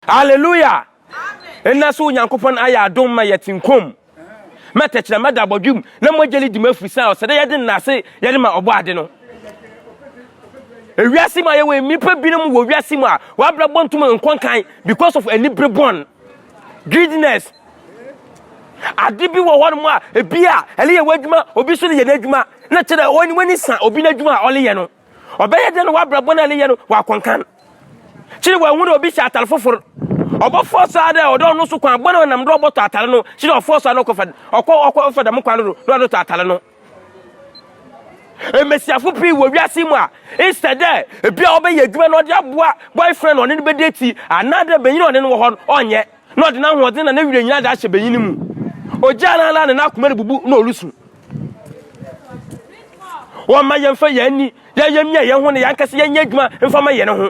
Aleluia! Nnɛ so Onyankopɔn ayɛ adom ma yɛte nkwa mu. Ma tɛkyerɛma da abɔdwe mu na mogya no di mu ɛfiri sɛ ɔsɛ dɛ yɛde nna ase yɛde ma ɔbɔ ade no. Ewiase mu a yɛwɔ nnipa binom wɔ wiase mu a wɔabrabɔ ntom nkɔ nkan because of anibere bɔn, greediness. Ade bi wɔ hɔnom a ebi a ɛleyɛ w'adwuma obi so leyɛ n'adwuma na kyerɛ ɔne w'ani sa obi n'adwuma a ɔleyɛ no. Ɔbɛyɛ dɛn na w'abrɛ bɔne a ne yɛ no w'akɔnkan? Kyerɛ w'ahu na obi hyɛ atare fofor. Ɔbɔfɔɔ saa dɛ ɔdɔ ɔno so kwan bɔne a ɔnam do ɔbɔtɔ atare no, kyerɛ ɔfɔɔ saa na ɔkɔfa ɔkɔ ɔkɔfa dɛm kwan no do na ɔdɔtɔ atare no. Mbasiafo pii wɔ wiase yi mu a, nsɛ dɛ bi a ɔbɛyɛ edwuma na ɔdze aboa boyfriend a ɔne no bedetsi anaadɛ banyin a ɔne no wɔ hɔ no ɔnyɛ. na ɔde n'ahoɔden na ne werɛ nyinaa de ahyɛ banyin no mu. Ogyaa no ara na n'akoma rebubu na ɔresu. Wɔmma yɛmfa yɛn ani yɛyɛ mmea yɛn ho na yɛankasa yɛnyɛ adwuma mfa ma yɛn ho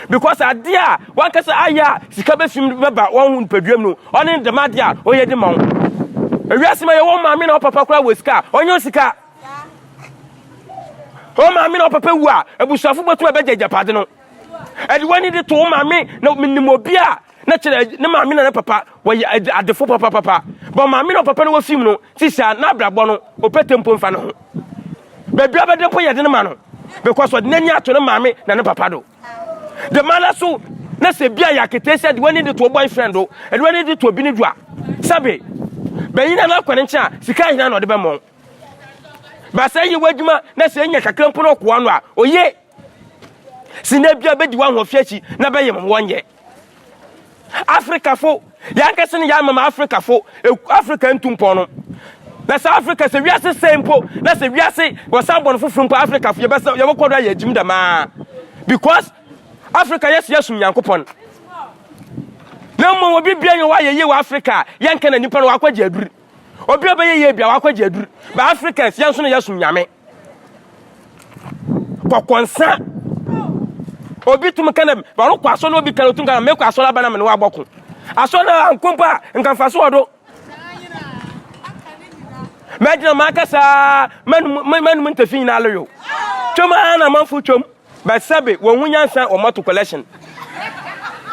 because adeɛ a wankasa ayɛ a sika bɛfim bɛba wɔn ho nipaduam no ɔne ne dɛm adeɛ a ɔyɛ de ma wo ewiase ma yɛwɔ maame na ɔpapa koraa wɔ sika a ɔnyɛ sika wɔn maame na ɔpapa wu a abusuafo bɛtumi abɛgye agyapade no ɛde wɔn ani de to wɔn maame na menim obi a na kyerɛ ne maame na ne papa wɔyɛ adefo papapapa bɔ maame na papa no wɔ fim no ti saa na abrabɔ no ɔpɛ tempo mfa ne ho baabi a bɛde mpo yɛ de ne ma no because ɔde n'ani ato ne maame na ne papa do de ma no so na sɛ bia yɛ akete sɛ de w'ani de to boyfriend do de w'ani de to obi ne do a sɛbe bɛyi na no akɔ ne nkyɛn a sika ahina na ɔde bɛmmɔn baasa yɛ w'adwuma na sɛ nya kakra mpo no ɔkoa no a ɔye si na bia bɛdi w'ahoɔfɛ akyi na bɛyɛ mmoɔ nyɛ afrikafo yɛankasa no yɛama ma afrikafo afrika ntu mpɔn no na sɛ afrika sɛ wiase sɛe mpo na sɛ wiase wɔsan bɔ no foforo mpo afrikafo yɛbɛsɛ yɛbɛkɔ do ayɛ agyim dɛmaa because afrika yɛsɛ yɛsom nyankopɔn na mmom obi bia yɛ wɔayɛ yie wɔ afrika yɛnka na nipa no wakɔgye aduru obi a ɔbɛyɛ yie bia wakɔgye aduru ba afrikans yɛn nso no yɛsom nyame kɔkɔ nsa obi tum ka dɛ ɔrokɔ asɔr na obi ka otum ka dɛ mekɔ asɔr aba na me ne ɔabɔko asɔr no ankɔ mpo a nka mfaso wɔ do mɛgyina makasa mɛnum ntafi nyinaa loyo twam ara na amanfo twam But sɛbe wɔn ho nyansa wɔn ato collection.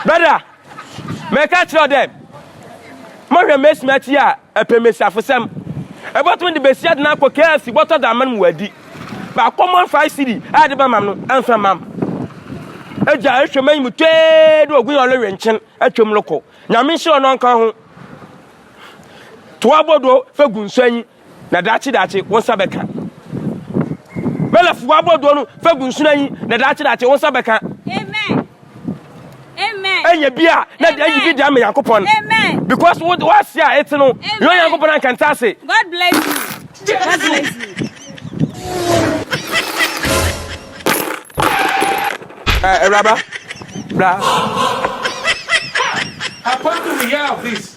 Brother, mɛka kyerɛ wo dɛ, mɔhwɛ mɛsumi akyi a ɛpɛ mmesiafosɛm. Ɛbɔtumi de bɛsi adena akɔ KFC bɔtɔ da amam wɔ adi. Ba common five city a ɛde bɛmam no, ɛmfa mam. Agya ɛhwɛ mɛnyi mu twee de ogun yɛ ɔlɔwe nkyen atwam loko. Nyame nhyira ɔno ɔnka ho. Toa bɔdɔ fɛ gu nsuanyi. Na daakye daakye wo nsa bɛka. Mɛlɛfo abɔdoɔ no fa gu nsono anyi na daakye daakye wo nsa bɛka. Amen. Amen. Ɛnyɛ bi a na deɛ ayi bi deɛ ama Nyankopɔn. Amen. Because wo wo ase a ete no. Amen. Yɛ Nyankopɔn anka nte ase. God bless you. God bless you. Eh, Awuraba, bra. Apart from the year of this.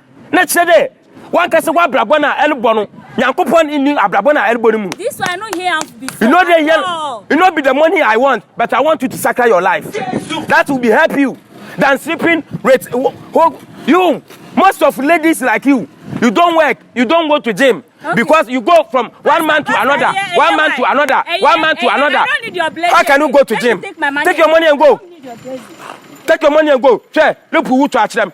Na kyerɛ dɛ, wankasa w'abrabɔ no a erobɔ no, Nyankopɔn nnyi abrabɔ no a erobɔ no mu. You know dɛ hɛn, it not be the money I want, but I want you to sakra your life. That will be help you than sleeping with you. Most of ladies like you, you don't work, you don't go to gym. Okay. Because you go from one man to another, yeah, one man to another, yeah, one man to yeah, another. I don't need your blessing. How can you go to gym? Take, take your money and go. Take your money and go. Sure, look who to them.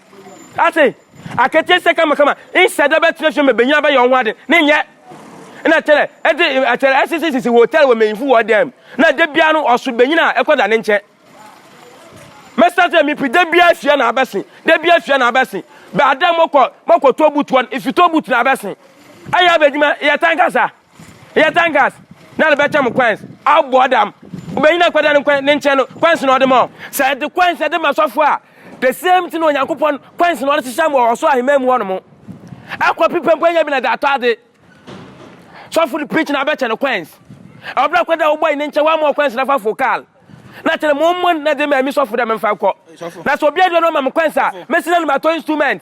Ase akataasia kamakama nhyɛ da bɛtena fie ma benyin abɛyɛ wɔn ho ade ne nyɛ. Na kyerɛ ɛde ɛkyerɛ ɛsisi sisi hotel wɔ manyinfo wɔ dan mu. Na da biara no ɔso benyin a ɛkɔ da ne nkyɛn. Mɛsa sɛ mipi da biara fie na abɛsen, da biara fie na abɛsen. Bɛ ada mɔkɔ mɔkɔ tɔ butuɔ no, ifi tɔ butu na abɛsen. Ayɛ abɛdwuma yɛ tan kasa. Yɛ tangas na no bɛkyɛ mo kwɛns abɔ ɔdam. Obenyin a nkwadaa no nkɔ ne nkyɛn no, kwɛns na ɔde ma wɔn. Sɛ yɛde kwɛns de ma sɔfo a, the same thing na Onyankopɔn kwɛns na ɔde hyehyɛ mo wɔ ɔsoro ahemman mu hɔnom. Ɛkɔ pi pɛ mpo anya bi na de atɔ ade. Sɔfo de preach na abɛkyɛ no kwɛns. Ɔbra akwadaa a wobɔ yi ne nkyɛn wɔama wɔ kwɛns na fa fo kal. Na kyerɛ mo mmɔ na de ma ɛmi sɔfo dɛ memfa nkɔ. Na sɛ obi aduane ɔma me kwɛns a, mɛsi na no matɔ instrument.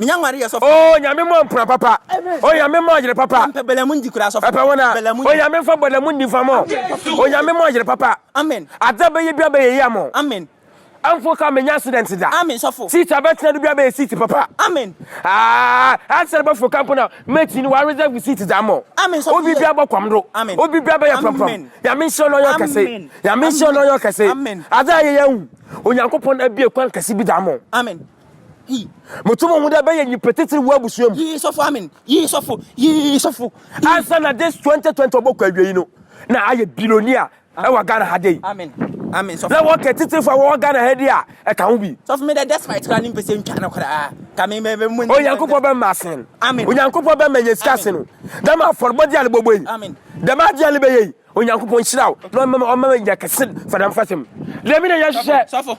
Oh Nyame mɔ mpena papa Oh Nyame mɔ yere papa Ɛpɛ wɔn a Oh Nyame nfa bɔlamu ndi nfa mɔ Oh Nyame mɔ yere papa Adza bɛyɛ bia bɛyɛ yɛ amɔ Amfo ka menya accident da Seat a bɛtena do bia bɛyɛ seat papa Ah Answer bɛfo ka mpo na mɛkyi no wa reserve seat dza amɔ Obi bia bɔ kɔm do Obi bia bɛyɛ prɔmprɔm Nyame nhyira no ɔyɛ ɔkɛse Nyame nhyira no ɔyɛ ɔkɛse Adza yɛ yɛ ahu Onyankopɔn abie kwan kɛse bi da amɔ. Moto mo ho dɛ bɛyɛ nyimpa tsitsir wɔ ebusua mu. Yii sɔfo amen yii sɔfo yii sɔfo. Ansa na this twenty twenty ɔbɔkɔ awiei no na ayɛ billionaire ɛwɔ Ghana ha dei. Amen amen sɔfo. Na wɔkɛ tsitsirfo a wɔwɔ Ghana ha dei a ɛka ho bi. Sɔfo me dɛ despite koraa ne mpɛsɛ ntwa no koraa ka me me me. Onyankopɔn bɛ ma asen. Amen. Onyankopɔn bɛ ma nya sika asen o. Dɛm afɔrbɔdze a ne bɔbɔ yi. Amen. Dɛm adze a ne bɛyɛ yi Onyankopɔn nhyira wo na ɔma nya kɛse fa dɛm fasem. Dɛm na yɛhwehwɛ. Sɔfo.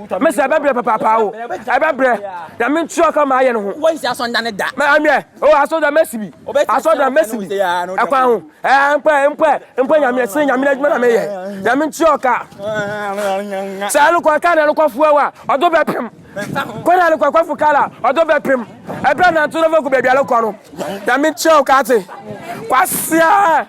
Me sɛ ɛbɛbrɛ papaapa o. Ɛbɛbrɛ. Na me ntua ɔka ma ayɛ no ho. Wɔn si asɔnda ne da. Mɛ amɛ. O asɔnda mɛsi bi. Asɔnda mɛsi bi. Ɛkwan ho. Ɛɛ mpɛ mpɛ mpɛ nyame ɛsɛ nyame na adwuma na meyɛ. Na me ntua ɔka. Sɛ ɛno kɔ ɛka na ɛno kɔ fuwa wa. Ɔdo bɛ pem. Kɔ na ɛno kɔ ɛkɔ fu kala. Ɔdo bɛ pem. Ɛbrɛ na nto na fɛ ku baabi alokɔ no. Na me ntua ɔka te. Kwasia.